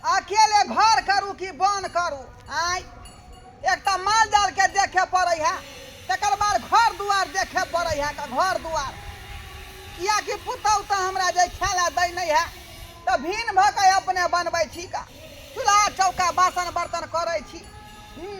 अकेले घर करू कि बन करू आय एक तऽ माल जाल के देखे पड़े है तकर बाद घर दुआर देखे पड़े है का घर दुआर किया कि पुतहु तऽ हमरा जे खेला दै नहीं है तऽ भीन भऽ के अपने बनबै छी का चूल्हा चौका बासन बर्तन करै छी हूँ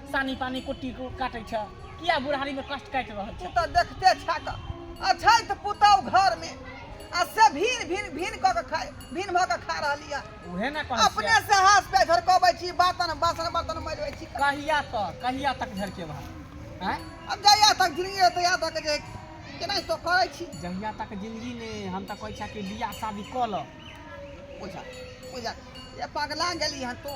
सानी पानी कुट्टी काटै छ किया बुढ़ारी में कष्ट काटि रहल तू छ तऽ देखते छा कऽ अछैत पुतहु घरमे आ से भीन भीन भीन कऽ के खाय भीन भऽ के खा रहली है उहे ना कहै अपने छियै से हाथ पे झरकबै छी बातन बासन बर्तन मजबै छी कहिया तक कहिया तक झरके भा हैं अब जहिया तक जिंदगी है तहिया तक जे केनाहितो करै छी जहिया तक जिंदगी ने हम तऽ कहै छियै कि बियाह शादी कऽ लऽ बुझा बुझा ये पगला गेली हन तू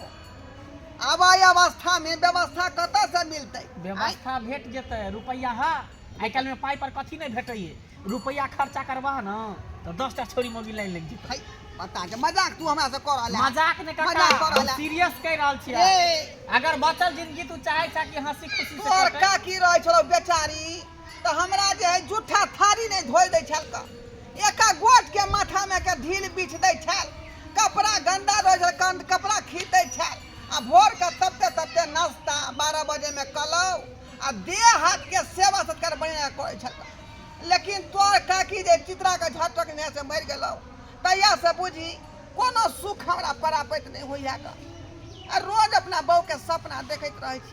आवाय अवस्था में व्यवस्था कत से मिलते व्यवस्था भेट जेतै रुपैआ हा आइ काल्हि में पाइ पर कथी नहि भेटैए रुपैआ खर्चा करबह न तऽ दस टा छोरी मोगी लाइन लागि जेतै पता के मजाक तू हमरा से कर रहल मजाक ने कर सीरियस कह रहल छी अगर बचल जिंदगी तू चाहे छ कि हंसी खुशी से कर का की रहे छौ बेचारी तऽ हमरा जे है जूठा थारी नहि धोइ दै छल तऽ एका गोट के माथा में के ढील बीछ दै छल कपड़ा गंदा रहै छल कंद कपड़ा खीच दै छल आ भोर के तबते तबते नाश्ता बारह बजे में कलौ आ देह हाथ के सेवा सत्कार बढ़िया करै छल लेकिन तोर काकी जे चित्रा के झटक ने से मरि गेलौ तहिया से बुझी कोनो सुख हमरा परापैत नहि होइया ग आ रोज अपना बहू के सपना देखैत रहै छी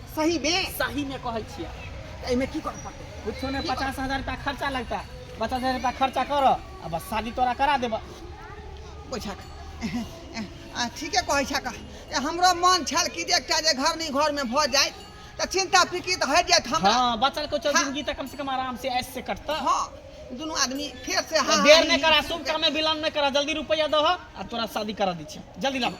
सही बे सही में कहै छियै एहिमे की कर पड़तै कुछो नहीं पचास हजार रुपया खर्चा लगता है पचास हजार रुपया खर्चा कर आ बस शादी तोरा करा देब बुझक आ, ठीके कहै छक ए, हमरो मन छल कि जे एकटा जे घर नहीं घर में भ जाय त चिंता फिकी त हट जायत हमरा हाँ बचल कुछ हाँ। जिंदगी तक कम से कम आराम से ऐश से कटता हाँ दुनू आदमी फेर से हाँ देर हाँ, नहीं करा शुभ काम में विलम्ब नहीं करा जल्दी रुपया दह आ तोरा शादी करा दी छियै जल्दी लाबा